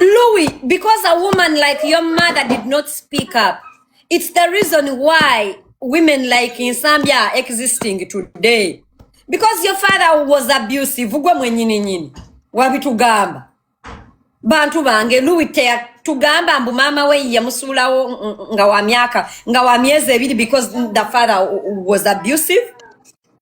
Louis, because a woman like your mother did not speak up, it's the reason why women like in Zambia are existing today. Because your father was abusive, ugwe mwenyini nyini, wabitugamba. Bantu bange, Louis tea tugamba mbu maama we yamusuulawo nga wa myaka nga wa myezi ebiri because the father was abusive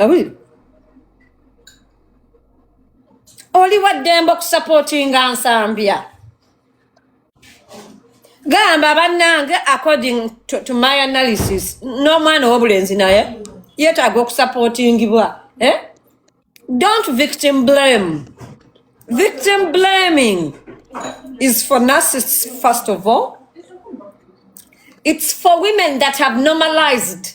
Ah oui. oli wa ddembe okusapootinga nsambya gamba bannange according to, to my analysis n'omwana ow'obulenzi naye yeetaaga okusapootingibwa eh? don't victim blame victim blaming is for narcissists first of all it's for women that have normalized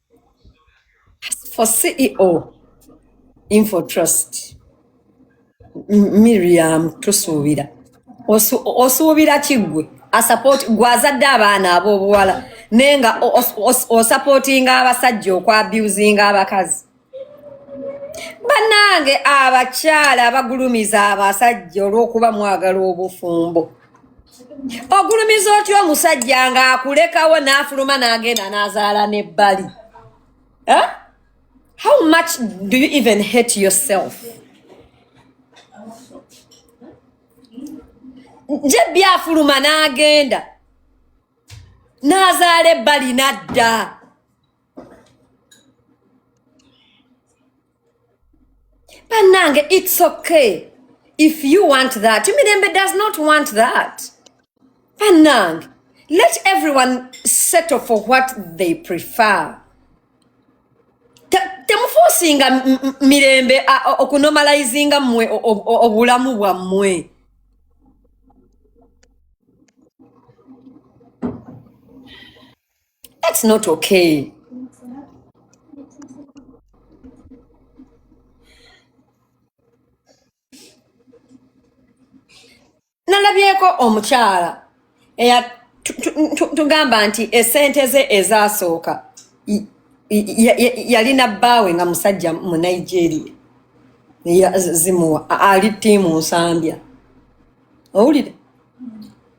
for ceo info trust M- miriam tusuubira Osu- osuubira kiggwe asapoti gwazadde abaana ab'obuwala naye nga o- os- os- osapootinga abasajja okwabyuzinga abakazi bannange abakyala abagulumiza abasajja olw'okuba mwagala obufumbo ogulumiza otya omusajja nga akulekawo n'afuluma n'agenda n'azaala n'ebbali eh? how much do you even hate yourself nje byafuluma n'agenda n'azaala ebbali n'adda banange it's okay if you want that mirembe does not want that banange let everyone settle for what they prefer temufosinga mirembe okunomalizinga mwe obulamu bwammwe That's not okay. nalabyeko omukyala eya tugamba nti esente ze ezasooka yalina bbaawe nga musajja mu nigeria zimuwa ali tiimu nsambya owulire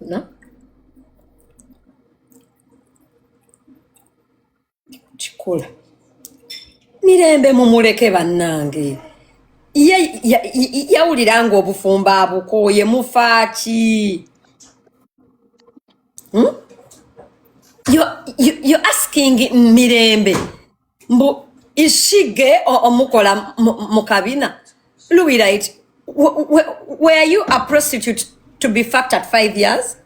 Unaona? Kikola mirembe mumuleke bannange yawulira nga obufumbo abukooye mufaaki hmm? you asking mirembe mbu ishige o- omukola mu mu kabina luwirayiti were you a prostitute to be fucked at five years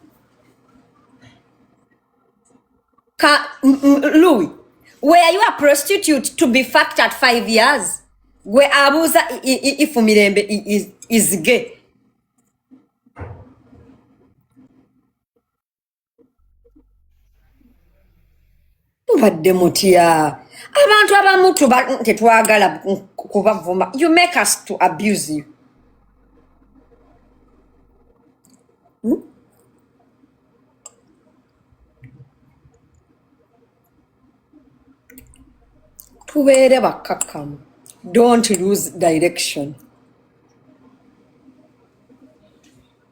Ka, m- m- Louis, were you a prostitute to be fucked at five years? Gwe abuuza i- i- i- if Mirembe i- is, is gay. mubadde mutya abantu abamu tuba tetwagala ku- kubavuma you make us to abuse you tubeere bakkakkamu don't lose direction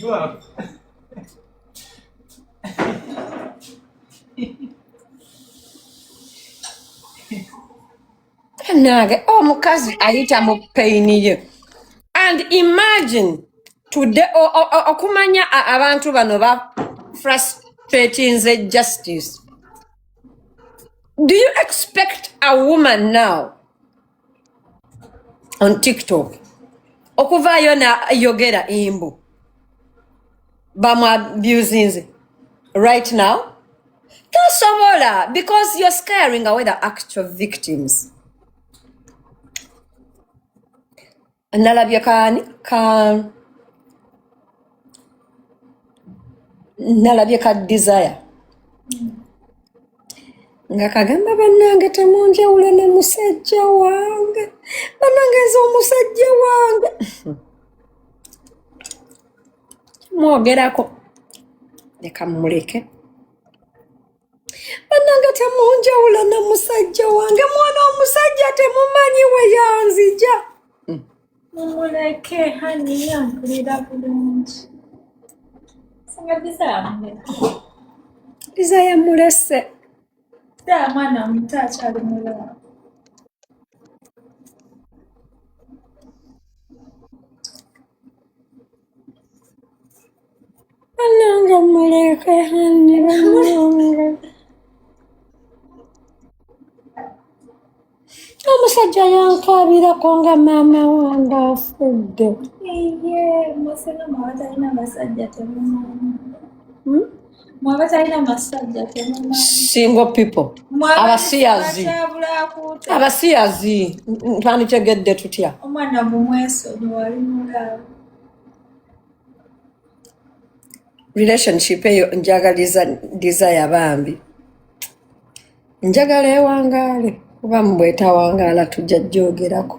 Jua. nange omukazi oh, ayita mu peyini ye and imagine today okumanya abantu bano ba frustratinze justice do you expect a woman now on tiktok okuvaayo nayogera embu bamwabusinze right now tosobola because you're scaring away the actual victims nalabye kaani ka nalabye ka desire nga kagamba bannange temunjawula ne musajja wange bannange nze omusajja wange mwogerako leka mumuleke bananga temunjawula na musajja wange mwana omusajja temumanyi weyanzija hmm. mumuleke hani yampulira bulungi singa biza yamulese daa mwana omuto akyali mulamu Ananga muleke hanne bamulonga. Omusajja yankaabirako nga maama wange afudde. Iye, masana mawatalina masajja temumanyi. Hmm? single people abasiyazi abasiyazi twanditegedde tutya omwana mumwesonyiwalimulaawo relationship eyo njagaliza desire bambi njagala ewangaale kuba mubwetawangaala tujja joogerako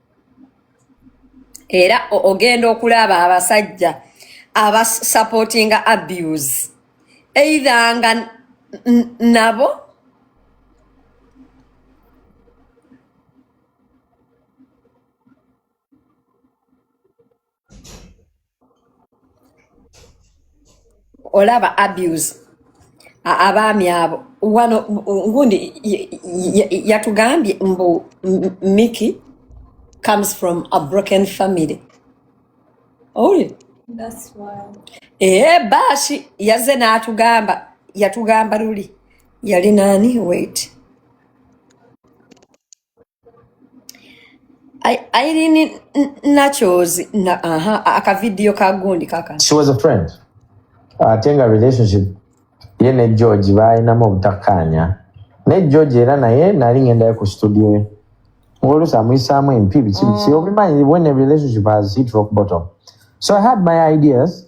era ogenda okulaba abasajja abasupportinga abuse either nga nabo olaba abuse abaami abo wano ngundi yatugambye mbu miki comes from a broken family owulire ee baashi yaze n'atugamba yatugamba luli yali naani wait I, I didn't nachos na, aha aka video ka gundi kaka. She was a friend. Uh, tenga relationship ye ne George balinamu obutakkaanya ne George era naye nali ngendayo ku studio ye ng'oluusi amuyisaamu empi biki biki obimanyi when a relationship has hit rock bottom so I had my ideas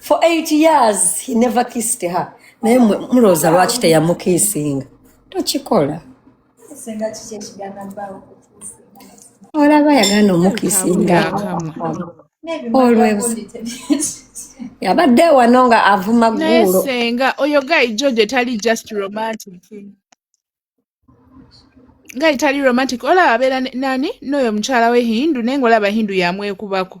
for eight years he never kissed her naye mulowooza lwaki teyamukiisinga tokikola olaba yagana omukiisinga olwebusa yabadde wano nga avuma gguulo senga oyo guy george etali just romantic nga etali romantic olaba abeera nani n'oyo mukyala we hindu naye nga olaba hindu yamwekubako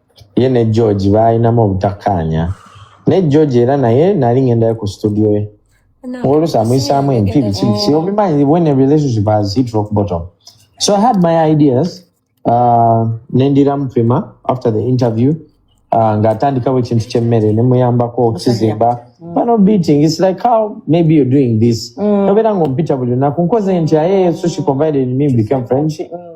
ye ne george baalinamu obutakkaanya naye george era naye nali ngendayo ku studio ye oluusi amuyisaamu empi biki biki obimanyi when a relationship has hit rock bottom so i had my ideas uh, nendira mupima after the interview uh, ng'atandikawo ekintu ky'emmere ne muyambako okukizimba mm. bano beating its like how maybe you're doing this mm. obeera ng'ompita buli lunaku nkoze nti aye so she confided in me became friendship mm.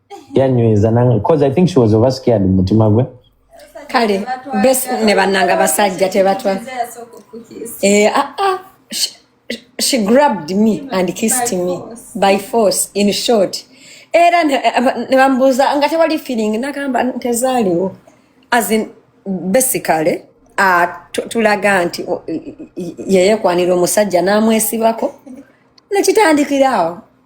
yanyweza nange because i think she was over scared mu mutima gwe kale bes ne bannanga basajja tebatwa eh, ah, ah, she- she grabbed me and kissed me by force in short era ne- eh, ne bambuuza nga tewali feeling nagamba tezaaliwo as in basically ah, tu- tulaga nti o- i- i- yeyekwanira omusajja n'amwesibako nekitandikira awo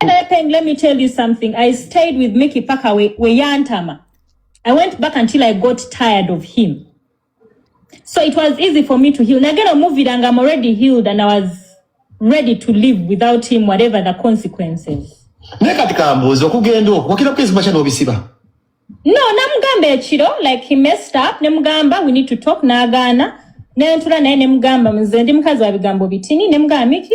Peng, let me tell you something. I stayed with Mickey Paka we, we yantama. I went back until I got tired of him. So it was easy for me to heal. Nagera movie and I'm already healed and I was ready to live without him, whatever the consequences. naye kati kambuuza okugenda okwo wakira kwezi makya n'obisiba no namugamba ekiro like he messed up nemugamba we need to talk n'agaana nentula naye nemugamba nze ndi mukazi wa bigambo bitini nemugamba miki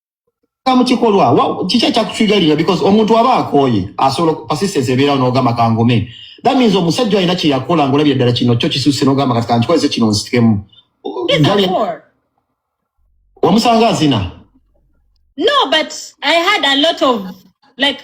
mukikolwa kiki ekyakutrigalira because omuntu aba akooye asobola persistence ebeerawo n'ogamba kangome that means omusajja alina kyeyakola ngaolabye ddala kino kyo kisusse n'ogamba kati kankikoleze kino nsitikemu wamusanga azina no but i had a lot of like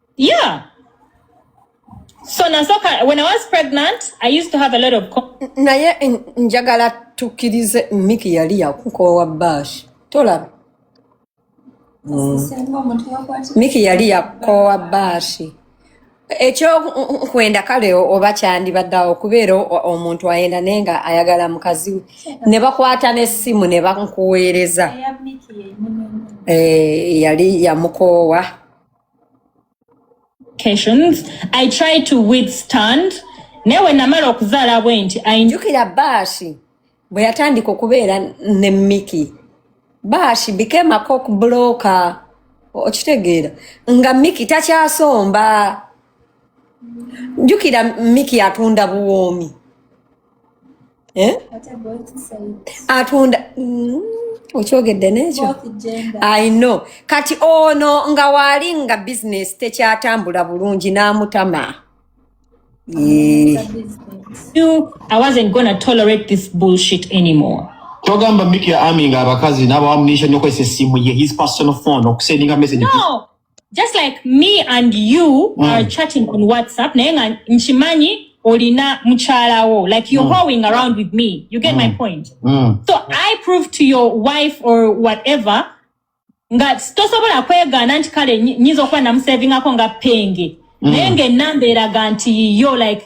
Yeah. So nasoka when I was pregnant, I used to have a lot of naye njagala tukirize Miki yali yakukowa bash. Tolaba. Mm. Miki yali yakowa bashi. ekyo nkwenda kale oba kyandibaddawo okubeera omuntu ayenda naye nga ayagala mukazi we ne bakwata n'essimu ne bankuweereza eh, yali yamukoowa i try to withstand naye we namala okuzaala bwe nti njukira baashi bwe yatandika okubeera ne miki baashi became a cock blocker okitegeera nga miki takyasomba njukira miki atunda buwoomi eh? atunda mm, okyogedde nekyo ino kati ono nga waali nga bizinesi tekyatambula bulungi n'amutama togamba miki ya ami nga abakazi n'abawamunisha nyokozesa essimu ye his personal phone okusendinga message no. just like me and you mm. are chatting on whatsapp naye nga nkimanyi olina mukyalawo like you're mm. hoeing around with me you get mm. my point mm. so i prove to your wife or whatever nga tosobola kwegaana nti kale nyinza okuba namusevingako nga penge mm. naye nga enamba eraga nti yiyo like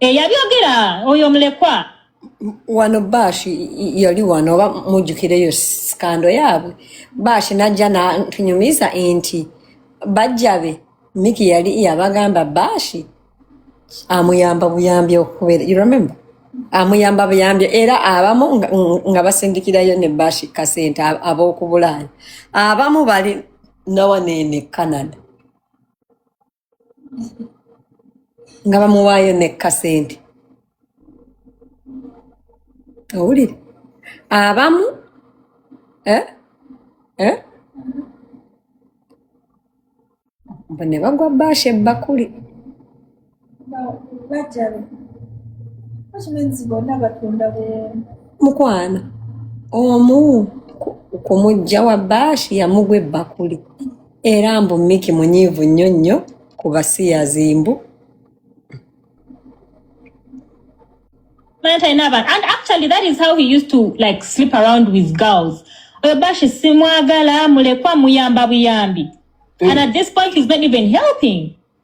Eh, yabyogera oyo mulekwa wano bash yali wano oba mujjukireyo sikando yaabwe bash najja natunyumiza nti bajjabe miki yali yabagamba bash amuyamba buyambi okubeera you remember amuyamba buyambi era abamu nga basindikirayo ne bash kasente ab'okubulaaya abamu bali nawaneene canada nga bamuwaayo nekka sente owulire abamu eh? Eh? mbu ne bagwa baasha ebbakuli mukwano omu ku- ku mujja wa baasha yamugwa ebbakuli era mbu miki munyiivu nnyo nnyo ku basiyazi mbu and actually that is how he used to like sleep around with girls oyo bashi simwagala mulekwa muyamba buyambi mm. and at this point he's not even helping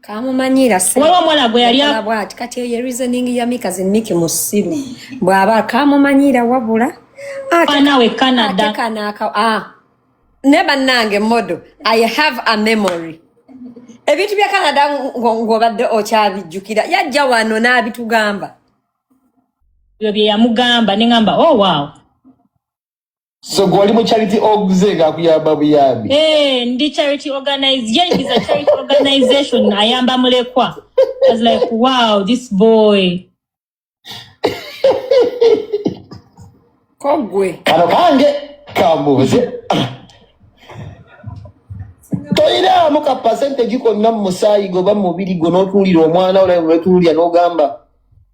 kamumanyira waba omwana gwe yali bwati kati eyo reasoning ya mikazi miki musiru bwaba kamumanyira wabula anawe canada kanaka ah ne bannange modo i have a memory ebintu bya canada ng'obadde okyabijjukira yajja wano n'abitugamba ebyo bye yamugamba ne ŋamba oh wow So gwali mu charity orgs nga kuyamba buyambi. Eh, ndi charity organize. Yeah, it is a charity organization. Ayamba mulekwa. I was like, wow, this boy. Kogwe. Kano kange kambuze. Toira mu ka percentage ko nam musayi go ba mubiri go no tulira omwana ola no tulira no gamba.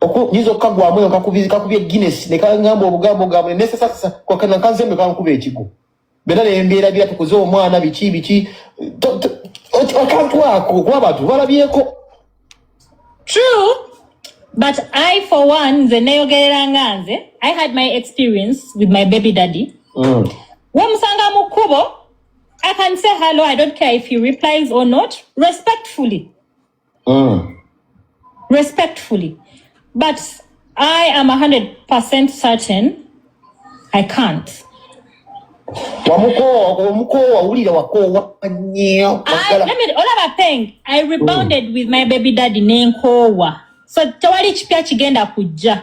okuyinza okukagwamu eyo kakubye guinness nekangamba obugambo gabwe nesasasa kwakana kanzembe kankuba ekigo bena nembeera bira tukuze omwana biki biki akantu ako okuba abantu balabyeko true but i for one nze neyogerera nga nze i had my experience with my baby daddy mm. wemusanga mu kkubo i can say hello i don't care if he replies or not respectfully mm. respectfully but i am 100 certain i can't wamukoowa omukoowa wulira wakoowa nnyo olaba peng i rebounded mm. with my baby daddy nenkoowa so tewali kipya kigenda kujja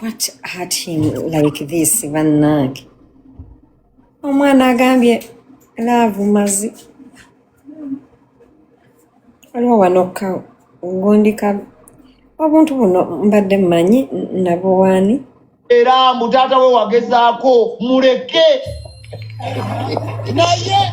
What hurt him like this bannange omwana agambye laavu mazi waliwo wanokka ngundika obuntu buno mbadde mmanyi nabuwaani era mbu taata we wagezaako muleke naye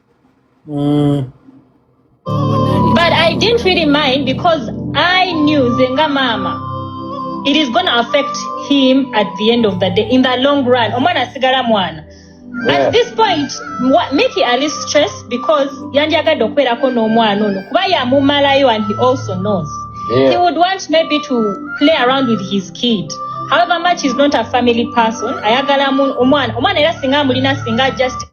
mm. but i didn't really mind because i knew zenga mama it is gonna affect him at the end of the day in the long run omwana asigala mwana yeah. at this point miki ali stress because yandyagadde okubeerako n'omwana ono kuba yamumalayo and he also knows yeah. he would want maybe to play around with his kid however much is not a family person ayagala omwana omwana era singa amulina singa just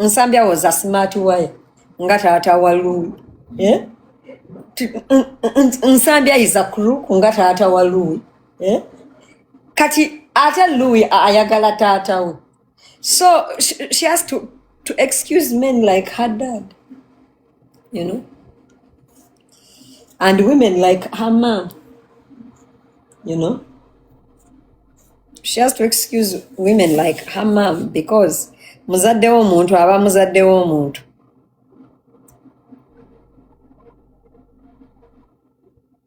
nsambya was a smart wire nga taata wa lui eh? nsambya is a crook nga taata wa lui eh? kati ate lui ayagala taata we so she, she has to, to excuse men like her dad you know and women like her mom you know she has to excuse women like her mom because muzadde w'omuntu aba muzadde w'omuntu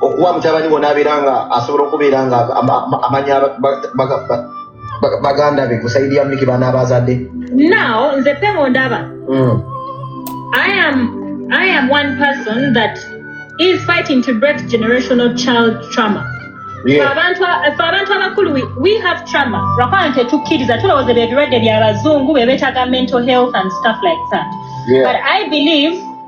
okuwa mutabani wo nabeera nga asobola okubeera nga amanya baganda be kusaidi ya miki bana abazadde now nze pemo ndaba mm. i am i am one person that is fighting to break generational child trauma abantu abakulu we have trauma lwakuba nti tukkiriza tulowooza bye birwadde bya bazungu be beetaga mental health and stuff like that but i believe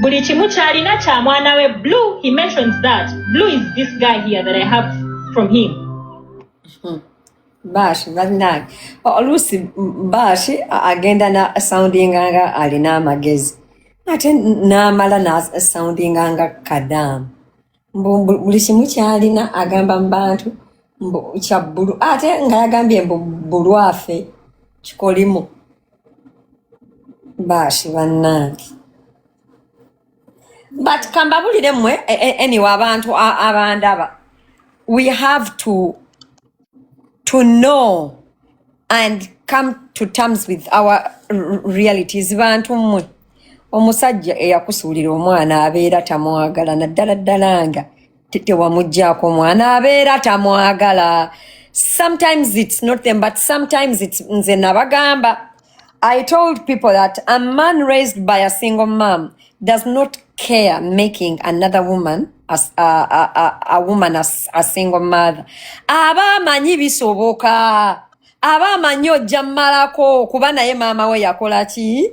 buli kimu kyalina kya mwana we blue he mentions that blue is this guy here that i have from him hmm. bashi banange oluusi bashi agenda na soundinga nga alina amagezi ate namala na soundinga nga kadamu buli kimu kyalina agamba mu bantu kya bbulu ate nga yagambye mbu bulwafe kikolimu baashi bannange but kambabulire mmwe e, e, anyway abantu abandaba we have to to know and come to terms with our realities bantu mmwe omusajja eyakusuulira omwana abeera tamwagala naddala ddala nga tewamugyako omwana abeera tamwagala sometimes its not them but sometimes its nze nabagamba I told people that a man raised by a single mom does not care making another woman as a, a, a, a woman as a single mother. Aba manyi bisoboka. Aba manyi ojja malako kuba naye mama we yakola ki?